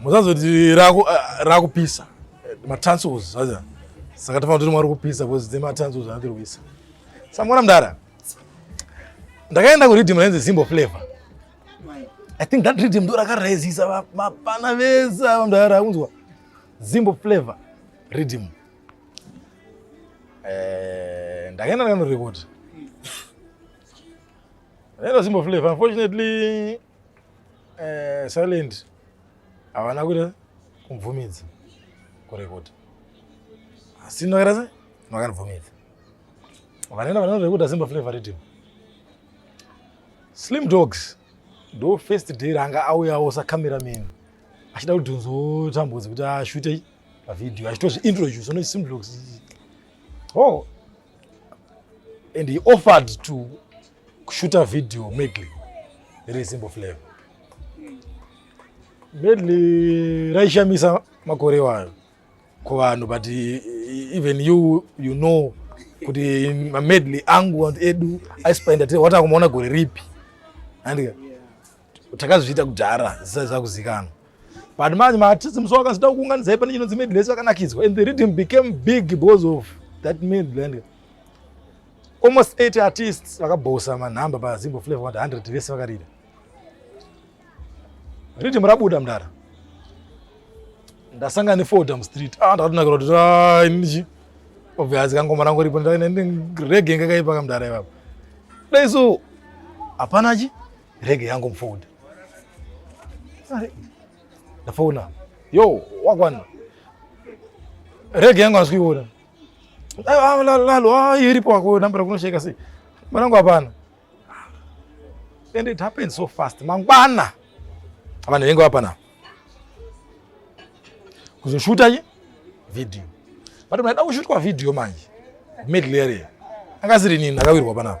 muzazoti rakupisa eh, matransos aza saka tafana kuti mwari kupisa bcause dze matransos anatiri kuisa samwana mdara ndakaenda kuriddim rainzi zimbo flavor i think that riddim ndo rakarezisa mapana vese ava mdara unzwa zimbo flavor riddim eh, ndakaenda ndakanorekota Hello, Simbo Flavor. Unfortunately, Eh, silent havana kuita kumvumidza kurekota asi ndakaita se vakanibvumidza vanoenda vanorekota simba flavor rhythm slim dogs ndo first day ranga auyawo sacameraman achida kuti nzotambudzi kuti ashute pavhidhiyo achitozviintroduce no slim dogs oh and he offered to kushuta video medley rezimbo flavor medley raishamisa makore wayo kuvanhu but even you you know kuti mamedley angu edu aispenda tiri watakumaona gore ripi andika takazviita kudhara zisati zvakuzikanwa but manje maartists musi wakazida kuunganidza ipane chinonzi midlands vakanakidzwa and the rhythm became big because of that midland almost 80 artists vakabhosa manhamba pazimbo flavor wati 100 vese vakarida rhythm rabuda mdara ndasangana nefoda mustreet ah ndakatonakira kuti ah, ininichi obvious kangoma rangu ripo rege ngakaipa kamdara ipapo dai so hapana chi Rege yangu mfownd. Ndafona. Yo, wakwana. Rege yangu asikuiona. Ah, ah, lalo, ah, iripo wako nambra kunosheka sei. Mwanangu hapana. And it happened so fast. Mangwana. Abana vengo hapana. Kuzoshuta ye video. But mwana kushutwa video manje. Middle area. Akasiri nini akawirwa panapa.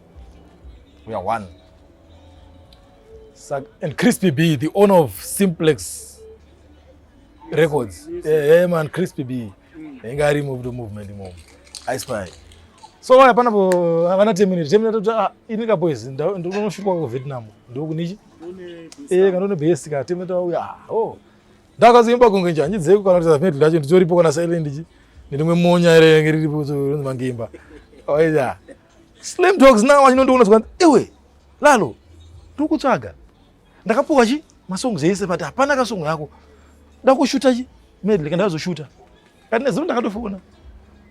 we are one Sak and crispy b the owner of simplex records yes. yeah, yeah, man crispy b inga ari move to movement imomo i spy so waya panapo havana teminute teminute kuti ah, ini ka boys ndinoshukwa ku vietnam ndokunichi eh kanone base ka teminute wauya ah, oh ndakazoimba kunge njanyi dzeko kana kuti zafnet lacho nditoripo kana silent chi ndirimwe monya ere riripo so rinzi mangimba oya oh, Slim dogs now achinondiona zvikanzi iwe lalo tikutsvaga ndakapuwa chi masongs ese but hapana kasongo yako ndakushuta chi medley kandazoshuta kati nezuro ndakatofona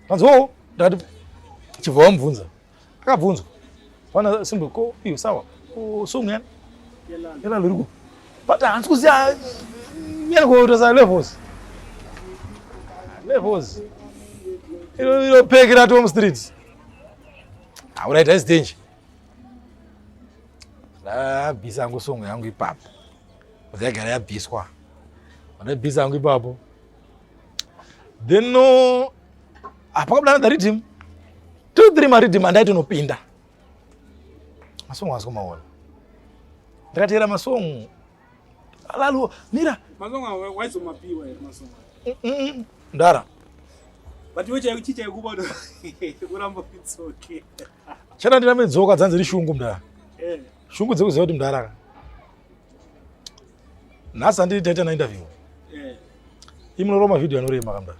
kanzi oo ndakati chibva wamubvunza akabvunzwa wana simbo ko iyo sawa song yani yelalo iriko but hansi kuziya yanikotosa levels levels ilo ilo pekera tom streets Hauna ita istenje. Ndabvisa hangu songo yangu ipapo. Ndagara yabviswa. Ndabvisa hangu ipapo. Then no apa kabla na rhythm. Two three ma rhythm andaito nopinda. Masongo asiko maona. Ndakatera masongo Alalo, mira. Mazonga waizo mapiwa here mazonga. Mm, mm, mm. Ndara. But wewe chai chicha kuba ndo. Kuramba kitsoke. Chana ndina medzoka dzanzi ri shungu mdara. Eh. Shungu dzekuziva kuti mdara. Nhasi andiri taita na interview. Eh. Imunoroma video anorema kamdara.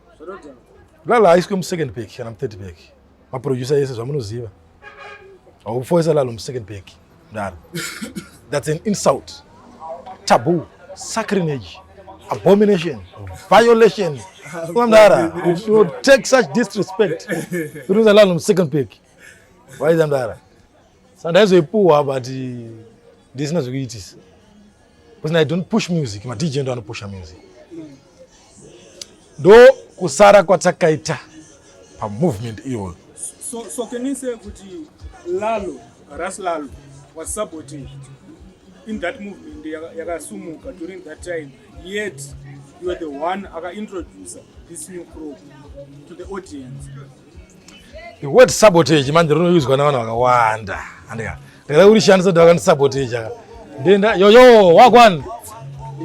lala haiswe musecond pack kana muthird pack maproducer ese zvamunoziva haufoisa lalo musecond pack mdara that's an insult taboo sacrinage abomination violation mdara you take such disrespect unoisa lalo musecond pack waiza mdara sandaizoipuwa but ndisina zvekuitisa Because I don't push music, ma DJ ndo anopusha music. Ndo kusara kwatakaita pa movement iyoyo. So, so can you say kuti Lalo, Ras Lalo was sabotage in that movement yakasumuka during that time yet you are the one aka introducer this new crop to the audience. The word sabotage manje rinoyuzwa navanhu vakawanda. Andika. Ndikada kurishandisa kuti vakandisabotage aka. Ndenda yoyo wagwan.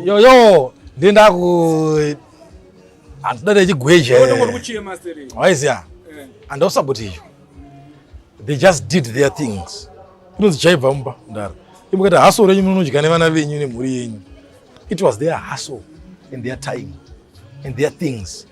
Yoyo ndenda ku handida ndechigweje. Waiziya. Eh. Andosabotage. They just did their things. Kunonzi chaibva mumba ndaro. Imukati haso renyu munodya nevana venyu nemhuri yenyu. It was their hustle and their time and their things.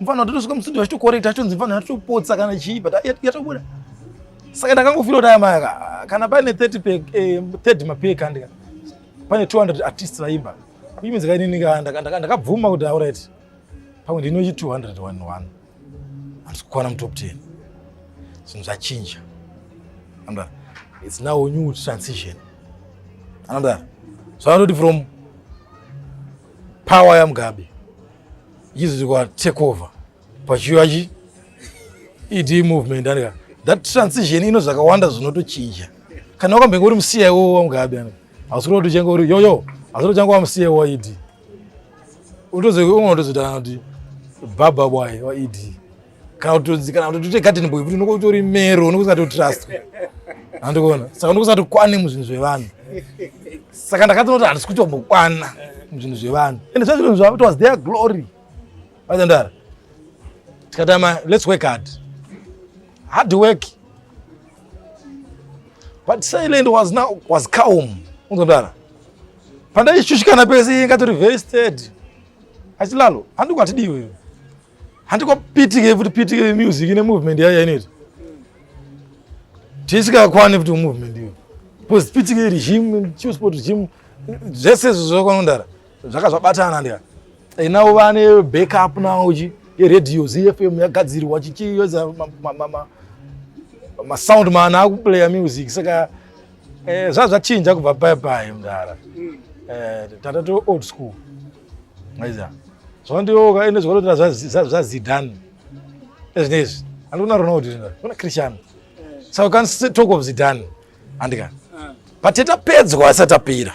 mfana totosvika musi ndiyo achitokorekta achitonzi mfana atopotsa kana chii but yatobuda saka ndakangofira kuti aya maya kana paine 30 pack eh, 30 mapack handika pane 200 artists vaimba kuimidzi kainini ndakabvuma kuti auright pamwe ndinochi 200 one one handisi kukwana mutop 10 zvinhu zvachinja amda it's now a new transition anamda zvavanoti from power yamugabe izvi kwa take over pachiuya chi ED movement andika that transition ino zvakawanda zvinotochinja kana wakambenge uri muCIO waMugabe andika hausi kuti uchange uri yoyo hausi kuti uchange wamuCIO waED unotozoona kuti baba bwaye waED kana kuti kana kuti garden boy kuti unenge utori mero unenge usati utrust andikuona saka unenge usati kwane muzvinhu zvevanhu saka ndakatonoti handisi kutombokwana muzvinhu zvevanhu ende zvazvinhu zvavo it was their glory vaitandara tikatama let's work hard hard work but silent was now was calm unzondara pandaishushikana pese ingatori very steady achilalo handiko atidiwe handiko pitike futi pitike music ine movement yayo yainoita tisikakwane futi movement iyo because pitike iri gym chisport gym zvese izvo zvakanondara zvaka zvabatana ndika inavo vane backup nawo chi yeredio zfm yagadzirwa chichiyoza masound man akuplaya music saka eh, zvazvachinja kubva paye paye mdara mm. eh, tata to old school maiza zvandioka ende zvakanotira zvazidhani ezvine izvi andikuna ronaldo kuna cristiano so can talk of zidhani andika but tapedzwa asati tapera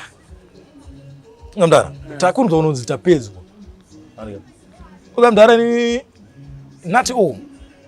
mdara takunzwa unonzi tapedzwa ukamdara ni nati o oh.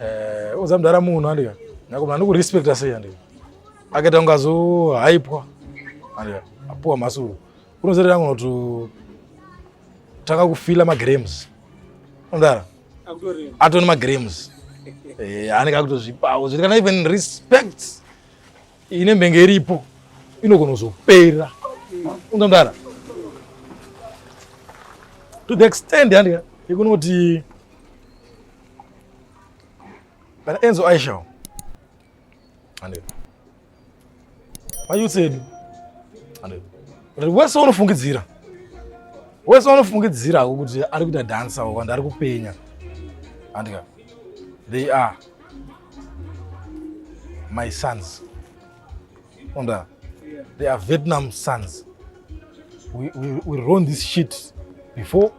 eh uza mdara munhu andika nakomana ndikurespecta sei andika akaita kunge azohaipwa andika apuwa masuru unozoti rangu notu tanga kufila magrams mdara atoni magrams eh, anenge akutozvipawo zviri kana even respect ine mbenge iripo inogona kuzopera unza mdara to the extent andika yekunoti Bana Enzo Aisha. Ande. Mayu tsedi. Ande. Kuti wese unofungidzira. Wese unofungidzira kuti ari kuita dance awo kana ari kupenya. Andika. They are my sons. Onda, they are Vietnam sons. We, we, we run this shit before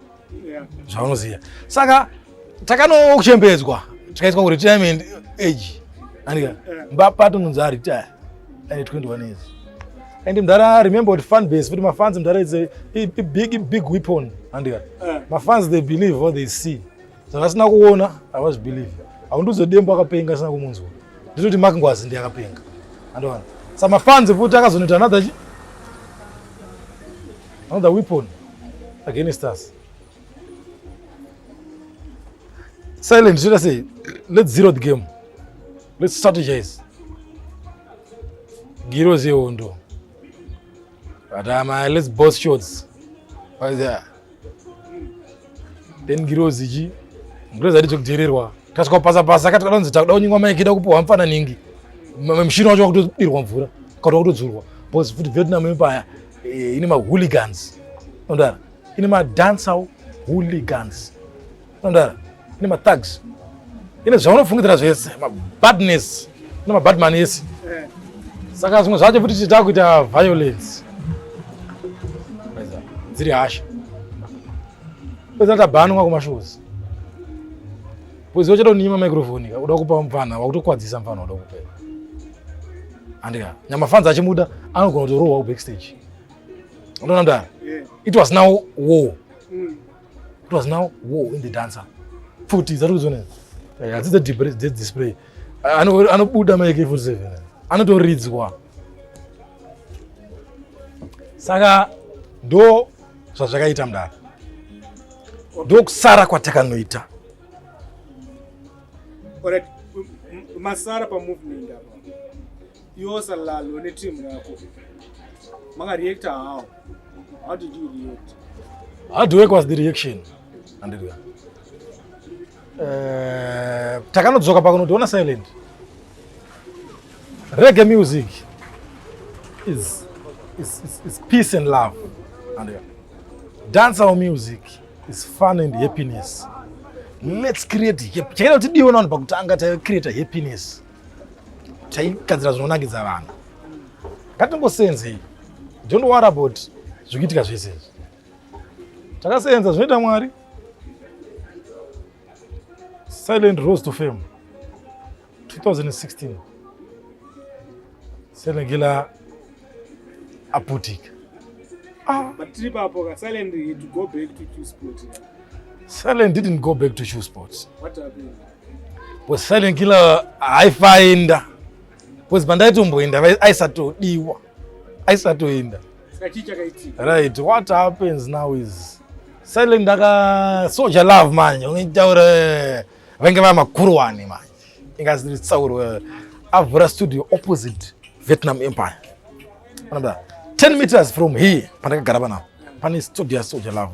zvavanoziva saka takanokuchembedzwa tikaiswa kuretirement age andika mbapato nonzi aretire ane 21 years and mdhara remember kuti fan base futi mafans mdhara is a, a, a big big weapon andika mafans they believe what they see zvavasina kuona havazvibelieve haundiudze dembo akapenga asina kumunzwa nditoti mak ngwazi ndi akapenga andoona sa mafanzi futi akazonoita another chi another weapon against us silent should i say let's zero the game let's strategize girozi yehondo but um, uh, let's both shots then ngirozi chi ngirozi ati chokudhererwa tasvika kupasa pasa akati kanonzi takuda kunyingwa maiki da kupiwa mfana ningi mushini wacho wakutodirwa mvura kati wakutodzurwa bcause futi vietnam ipaya eh, ine mahooligans ondara ine madancer hooligans Unodara ine mathags ine zvaunofungidzira zvese mabadness ine mabadman ese eh. saka zvimwe zvacho futi tichita kuita violence dziri hasha pedzaa tabanwa kumashozi bwezi wachatonyima microfoni ka uda kupa mupfana wakutokwadzisa mupfana wada kupa andika nyamafanzi achimuda anogona kutorohwa kubackstage unoona mdara it was now war mm. It was now war in the dancer. Futi zari kuzona. Yeah, this is the display. This display. Ano ano buda ma AK47. Ano to reads kwa. Saka ndo zvazvakaita mdara. Ndo kusara kwatakanoita. Alright. Masara pa movement apa. Yosa lalo ne team yako. Manga reactor how? How did you react? How do you was the reaction? Andiriya. Uh, eh, takanodzoka pakunotiona silent. Reggae music is, is, is, is peace and love. Andiriya. Dancehall music is fun and happiness. Let's create happiness. Chakada kuti diona vanhu pakutanga ta create happiness. taigadzira zvinonakidza vanhu ngatingosenzei don't worry about zvikuitika zvese izvi takasenza zvinoita mwari silent rose to fame 2016 senegila aputika ah. silent didn't go back to shoe sports What happened? Because silent killer haifaenda. Because pandaitomboenda aisatodiwa. Aisatoenda. Right, what happens now is silent ndaka soja love manje unitaura eh, vange vava makuru wani manje. Ingaziri tsauro eh, avhura studio opposite Vietnam Empire. Another 10 meters from here pandakagara panapa. Pane studio soja love.